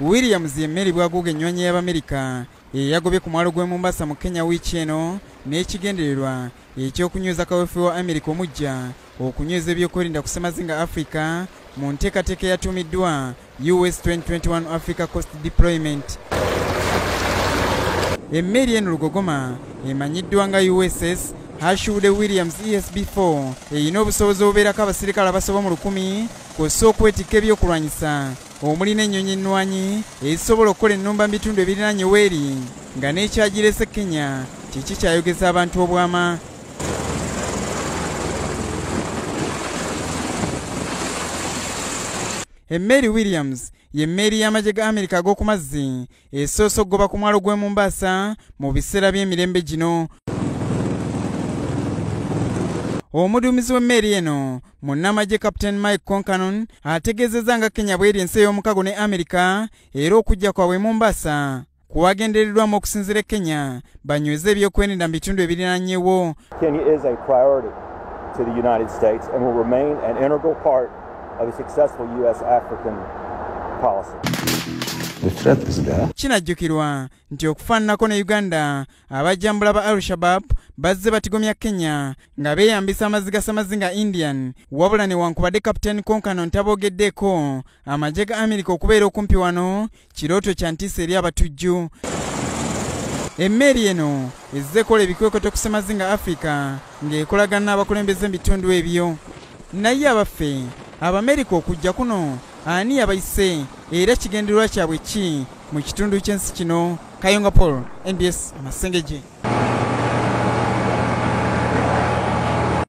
Williams ye mmeeri bwaguuga ennywanyi y'Abamerika eyagobye ku mwalo gw'e Mombasa mu Kenya wiiki eno n'ekigendererwa eky'okunyweza kaweefube wa Amerika omujja okunyweza ebyokwerinda ku ssemazinga Afrika mu nteekateeka eyatuumiddwa US 2021 Africa Coast Deployment. Emmeeri eno lugogoma emanyiddwa nga USS Herschel Williams ESB 4 erina obusobozi obubeerako abasirikale abasoba mu lukumi kw'ossa okwetikka ebyokulwanyisa omuli n'ennyonyi ennwanyi ezisobola okukola ennumba mu bitundu ebiriraanye weeri nga n'ekyagirese kenya kiki kyayogeza abantu obwama emmeeri williams y'emmeeri y'amagye ga amerika ag'oku mazzi esoosa okugoba ku mwalo gw'e Mombasa mu biseera by'emirembe gino omuduumizi w'emmeeri eno munnamagye captain mike concanon ategeezezza nga kenya bweri ensi ey'omukago ne amerika era okujja kwabwe mombasa kuwagendereddwamu okusinzira e kenya banyweze ebyokweninda mu bitundu ebirinanyewo kinajjukirwa nti okufaananako ne uganda abajjambula ba al-shabab bazze batigomya kenya nga beeyambisa amazzi ga samazinga indian wabula newankubadde kapiteeni konkano ntaboogeddeeko amagye ga amerika okubeera okumpi wano kirooto kya ntiisa eri abatujju emmeeri eno ezze ekola ebikwekweto ku ssemazinga afrika ng'ekolagana n'abakulembeze mu bitundu ebyo naye abaffe abamerika okujja kuno ani yabayise era kigendererwa kyabwe ki mu kitundu ky'ensi kino kayonga paul mbs masengeje